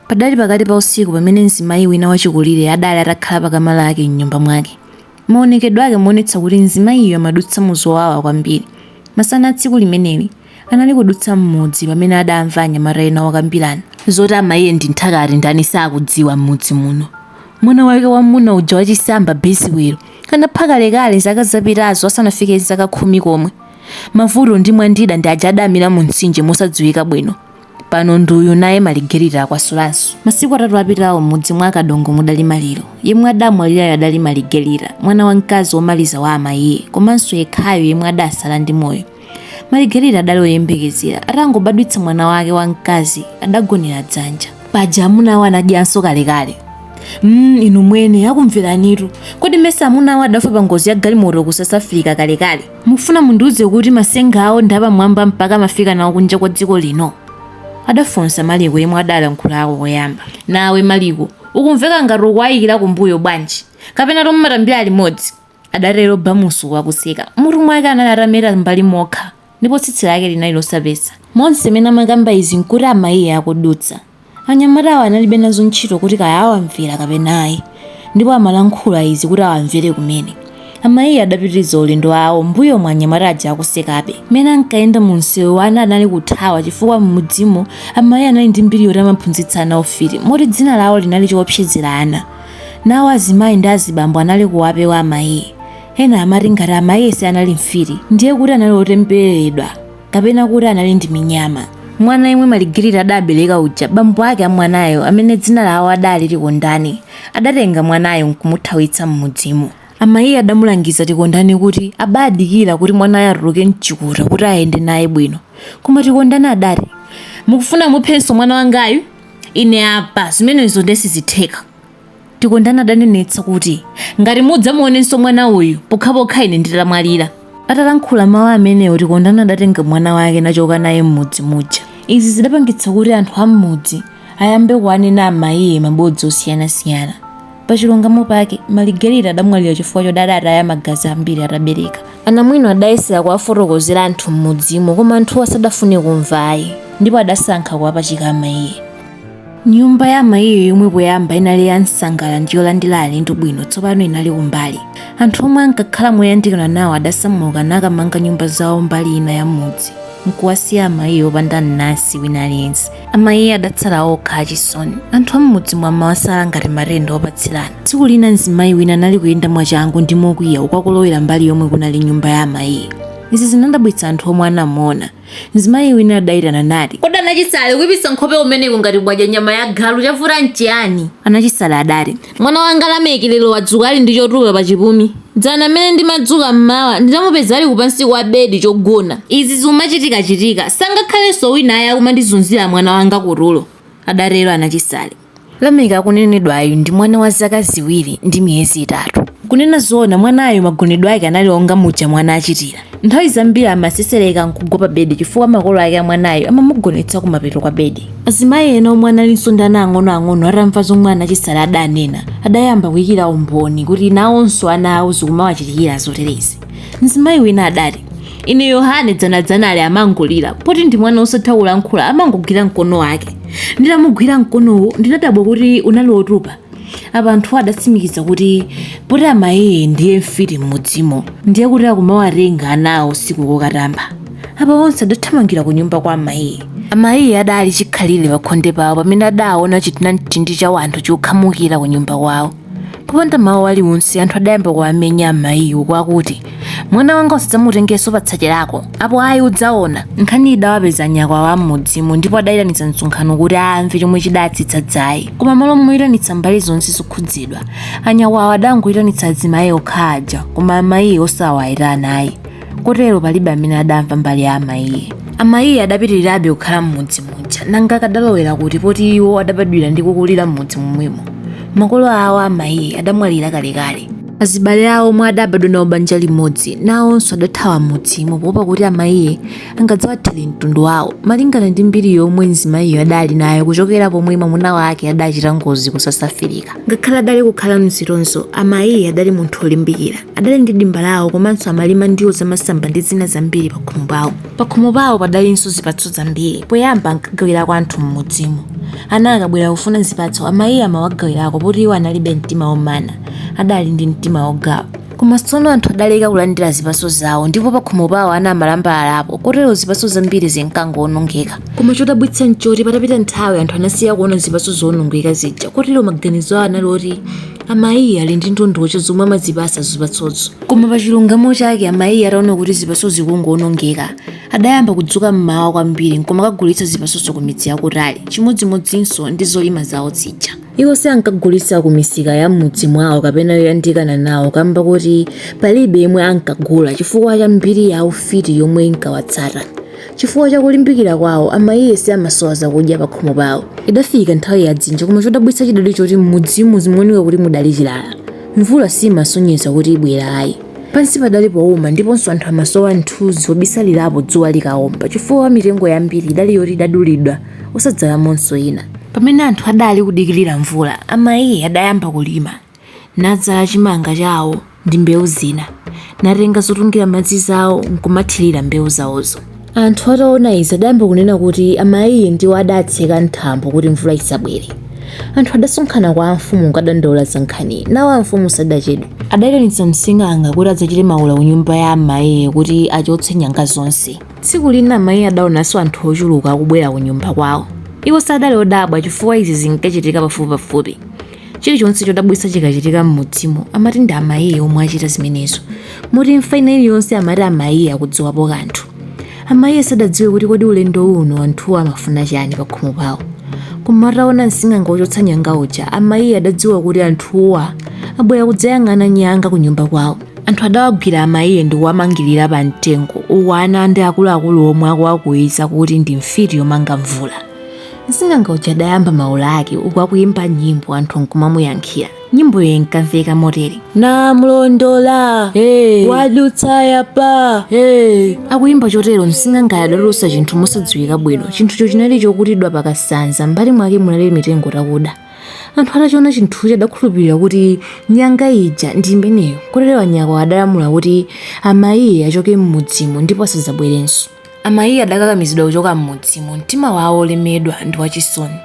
Padali pakati pa usiku pamene mzimayi wina wachikulire adali atakhala pa kama lake m'nyumba mwake. Maonekedwe ake amaonetsa kuti mzimayiyo amadutsa mu zowawa kwambiri. Masana a tsiku limeneli, anali kudutsa m'mudzi pamene adamva anyamata ena akukambirana. Zoti amayiye ndi nthakati ndani sakudziwa m'mudzi muno. Mwana wake wam'muna uja wachisamba, Biziwelo, anapha kalekale zaka zapitazo asanafike zaka khumi komwe. Mavuto ndi Mwandida ndi aja adamira mu mtsinje mosadziwika bwino. pano ndi uyu naye maligerita akwasulanso masiku atatu apitawo m'mudzi mwa kadongo mudali maliro yemwe adamwalirayo adali maligerita mwana wamkazi womaliza wa amayiye komanso yekhayo yemwe adatsala ndi moyo maligerita adali oyembekezera atangobadwitsa mwana wake wamkazi adagonera dzanja paja amunawo anadyanso kalekale Mm, inu mwene akumveranitu kodi mesa amunawo adafa pa ngozi ya galimoto ku south africa kalekale Mufuna mundiuze kuti masenga awo ndi apamwamba mpaka amafika nawo kunja kwa dziko lino? adafunsa Maliko yemwe adalankhulako koyamba. Nawe Maliko, ukumveka ngati ukuwaikira kumbuyo bwanji? Kapenatu mumatambira limodzi? adatero Bamusi uku akuseka. Mutu mwake anali atameta m'mbali mokha ndipo tsitsi lake linali losapesa. Monse mmene amakamba izi nkuti amayiye akudutsa. Anyamatawo analibe nazo ntchito kuti kaya awamvera kapena ayi, ndipo amalankhula izi kuti awamvere kumene. Amayiye adapitiriza ulendo wawo m'mbuyomu anyamata aja akusekabe. Mmene ankayenda mumsewu ana anali kuthawa chifukwa m'mudzimo amayiye anali ndi mbiri yoti amaphunzitsa ana ufiti moti dzina lawo linali choopsezera ana. Nawo azimayi ndi azibambo anali kuwapewa amayiye. Ena amati ngati amayiye sianali mfiti ndiye kuti anali otembereredwa. kapena kuti anali ndi minyama mwana yemwe maligerita adabereka uja bambo ake a mwanayo amene dzina lawo adali tikondani adatenga mwanayo nkumuthawitsa m'mudzimo amayiye adamulangiza tikondani kuti abadikira kuti mwanayo atuluke mchikuta kuti ayende naye bwino koma tikondani adati mukufuna muphenso mwana wangayu ine apa zimenezo nde sizitheka Tikondani adanenetsa kuti, Ngati mudzamuonenso mwana uyu, pokhapokha ine nditamwalira. Atalankhula mawu amenewo, Tikondani adatenga mwana wake nachoka naye m'mudzi muja. Izi zidapangitsa kuti anthu a m'mudzi ayambe kuwanena amayiye mabodza osiyanasiyana. Pachilungamo pake, Maligerita adamwalira chifukwa choti adataya magazi ambiri atabereka. Anamwino adayesera kuwafotokozera anthu m'mudzimo koma anthuwo sadafune kumva ayi ndipo adasankha kuwapachika amayiye. nyumba ya amayiye yomwe poyamba inali ya msangala ndi yolandira alendo bwino tsopano inali kumbali anthu omwe ankakhala moyandikana nawo adasamuka nakamanga nyumba zawo mbali ina ya mudzi nkuwasiya amayiye opanda mnansi wina aliyense amayiye adatsala okha achisoni anthu am'mudzimo amawasala ngati matenda opatsirana tsiku lina mzimayi wina anali kuyenda mwachangu ndi mokwiya uku akulowera mbali yomwe kunali nyumba ya amayiye izi zinadabwitsa anthu omwe anamuona Mzimayi wina adaitana nati, Kodi anachisale, kuipitsa nkhope kumeneku ngati mwadya nyama ya galu, chavuta nchiyani? Anachisale adati, Mwana wanga Lameki lero wadzuka ali ndi chotupa pa chipumi. Dzana m'mene ndimadzuka m'mawa, ndidamupeza ali kupansi kwa bedi, chogona. Izi zikumachitikachitika, sangakhalenso wina ayi akumandizunzira mwana wanga kutulo, adatero Anachisale. Lameki akunenedwayu ndi mwana wa zaka ziwiri ndi miyezi itatu. Kunena zoona mwanayu magonedwe ake anali onga muja mwana achitira. Nthawi zambiri amasesereka n'kugwa pabedi chifukwa makolo ake a mwanayu amamugonetsa kumapeto kwa bedi. Azimayi ena omwe analinso ndi ana ang'onoang'ono atamva zomwe Anachisale adanena, adayamba kuikira umboni kuti nawonso ana awo zikumawachitikira zoterezi. Mzimayi wina adati, ine yohane dzanadzanali amangolira poti ndi mwana osatha kulankhula amangogwira mkono wake nditamugwira mkonowo ndinadabwa kuti unali wotupa apa anthu adatsimikiza kuti poti amayiye ndiye mfiti m'mudzimo ndiye kuti akumawatenga anawo usiku kukatamba apa onse adathamangira ku nyumba kwa amayiye amayiye adali chikhalire pakhonde pawo pamene adaona chitinamtindi cha wanthu chokhamukira ku nyumba kwawo popanda mawu aliwonse anthu adayamba kuwamenya amayiye kwakuti mwana wanga usadzamutengenso patsache lako apo ayi udzaona nkhani idawapeza anyakwawa a m'mudzimo ndipo adayitanitsa msonkhano kuti amve chomwe chidatsitsa dzaye koma malo moyitanitsa mbali zonse zokhudzidwa anyakwawa adangoyitanitsa azimayi okha aja koma amayiye osawayitana ayi kotero palibe amene adamva mbali ya amayiye amayiye adapitirirabe kukhala m'mudzi muja nanga akadalowera kuti poti iwo adabadwira ndi kukulira m'mudzi momwemo makolo awo amayiye adamwalira kalekale azibale awo omwe adabadwa nawo banja limodzi nawonso adathawa m'mudzimo poopa kuti amayiye angadzawathere mtundu wawo malingana ndi mbiri yomwe mzimayiyo adali nayo kuchokera pomwe mwamuna wake adachita ngozi ku south africa ngakhale adali kukhala m'zitonzo amayiye adali munthu olimbikira adali ndi dimba lawo komanso amalima ndiwo zamasamba ndi zina zambiri pakhomo pawo pakhomo pawo padalinso zipatso zambiri poyamba ankagawirako anthu m'mudzimo ana akabwera kufuna zipatso amayiye amawagawirako poti iwo analibe mtima womana adali ndi mtima wogawa koma tsono anthu adaleka kulandira zipatso zawo ndipo pakhomo pawo ana amalambalalapo kotero zipatso zambiri zinkangowonongeka koma chodabwitsa nchoti patapita nthawi anthu anasiya kuona zipatso zowonongeka zija kotero maganizo awo anali oti Amayiye ali ndi ndondocha zomwe amazipatsa zipatsozo. Koma pa chilungamo chake, amayiye ataona kuti zipatso zikungowonongeka, adayamba kudzuka m'mawa kwambiri n'kumakagulitsa zipatsozo kumidzi yakutali, chimodzimodzinso ndi zolima zawo zija. Iwo sankagulitsa kumisika ya m'mudzi mwawo kapena yoyandikana nawo kamba koti palibe yemwe ankagula chifukwa cha mbiri ya ufiti yomwe inkawatsata. Chifukwa cha kulimbikira kwawo, a Maiye siamasowa zakudya pakhomo pawo. Idafika nthawi ya dzinja koma chodabwitsa chidali choti m'mudzimo zimaoneka kuti mudali chilala. Mvula siimasonyeza kuti ibwera ayi. Pansi padali pouma ndiponso anthu amasowa mthunzi wobisalirapo dzuwa likaomba chifukwa mitengo yambiri idali yoti idadulidwa osadzalamonso ina. Pamene anthu adali kudikirira mvula, a Maiye adayamba kulima. nadzala chimanga chawo ndi mbewu zina natenga zotungira madzi zawo nkumathirira mbewu zawozo anthu ataona izi adayamba kunena kuti amayiye ndiwo adatseka mthambo kuti mvula isabwere anthu adasonkhana kwa amfumu kukadandaula za nkhani nawo amfumu sadachedwe adayitanitsa msing'anga kuti adzachite mawula ku nyumba ya amayiye kuti achotse nyanga zonse tsiku lina amayiye adaonanso anthu ochuluka akubwera ku nyumba kwawo iwo sadali odabwa chifukwa izi zinkachitika pafupipafupi Chilichonse chodabwitsa chikachitika m'mudzimo amati ndi amayiye omwe achita zimenezo. Moti imfa ina iliyonse amati amayiye akudziwapo kanthu. Amayiye sadadziwe kuti kodi ulendo uno anthuwo amafuna chani pakhomo pawo. Koma ataona msing'anga wochotsa nyanga uja, amayiye adadziwa kuti anthuwa abwera kudzayang'ana nyanga kunyumba kwawo. Anthu adawagwira amayiye ndi kuwamangirira pamtengo uku ana ndi akuluakulu omwe akuwakuwiza kuti ndi mfiti yomanga mvula. msing'anga uja adayamba maula ake uku akuyimba nyimbo anthu nkumamuyankhira nyimboyo inkamveka motere namlondola hey. wadutsa yapa hey. akuyimba chotero msing'anga adatulutsa chinthu mosadziwika bwino chinthucho chinali chokutidwa pakasanza mbali mwake munali mitengo takuda anthu atachiona chinthucho adakhulupirira kuti nyanga ija ndi imeneyo kotero anyakwawa adalamula kuti amayiye achoke m'mudzimo ndipo asadzabwerenso Amayiye adakakamizidwa kuchoka m'mudzimo, mtima wawo wolemedwa ndi wachisoni.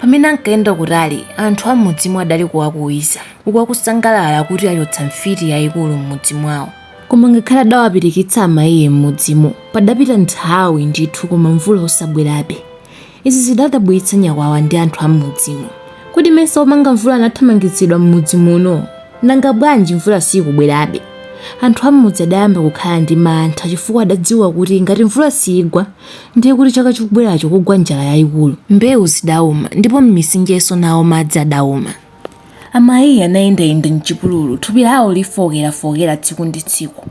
Pamene ankayenda kutali, anthu a m'mudzimo adali kuwakuwiza, uku akusangalala kuti achotsa mfiti yaikulu m'mudzi mwawo. Koma ngakhale adawapirikitsa amayiye m'mudzimo, padapita nthawi ndithu koma mvula osabwerabe. Izi zidadabwitsa nyakwawa ndi anthu a m'mudzimo. Kodi mesa omanga mvula anathamangitsidwa m'mudzi muno? Nanga bwanji mvula siikubwerabe? Anthu a m'mudzi adayamba kukhala ndi mantha chifukwa adadziwa kuti ngati mvula siigwa, ndiye kuti chaka chikubweracho kugwa njala yaikulu. Mbewu zidauma ndipo m'mitsinjenso nawo madzi adauma. Amayiye anayendayenda m'chipululu, thupi lawo lifookerafookera tsiku ndi tsiku.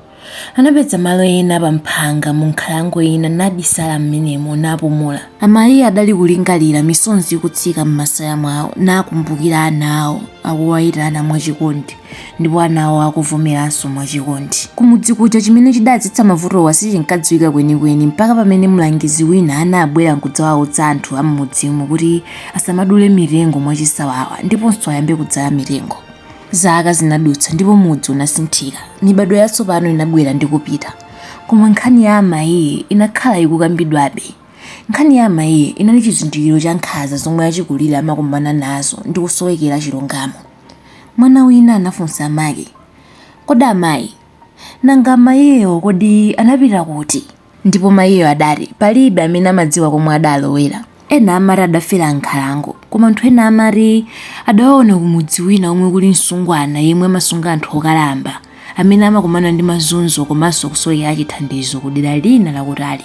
Anapeza malo ena pa mphanga mu nkhalango ina nabisala m'menemo napumula. Amaiye adali kulingalira, misonzi ikutsika m'masaya mwao, nakumbukira ana ao akuwaitana mwa chikondi, ndipo anawo akuvomeranso mwa chikondi. Kumudzi kuja chimene chidadzetsa mavutowa sichinkadziwika kwenikweni mpaka pamene mlangizi wina anabwera nkudzawaudza anthu a m'mudzimo kuti asamadule mitengo mwachisawawa ndiponso ayambe kudzala mitengo. Zaka zinadutsa ndipo mudzi unasinthika. Mibadwo yatsopano inabwera ndi kupita. Koma nkhani ya amayiyi inakhala ikukambidwabe. Nkhani ya amayiyi inali chizindikiro cha nkhanza zomwe achikulire amakumana nazo ndi kusowekera chilungamo. Mwana wina anafunsa amake, Kodi amayi, nanga amayiwo kodi anapita kuti? Ndipo mayiyo adati, Palibe amene amadziwa komwe adalowera. Ena amati adafera m'nkhalango, koma anthu ena amati adawaona kumudzi wina komwe kuli msungwana yemwe amasunga anthu okalamba amene amakumana ndi mazunzo komanso kusowekera chithandizo ku dera lina lakutali.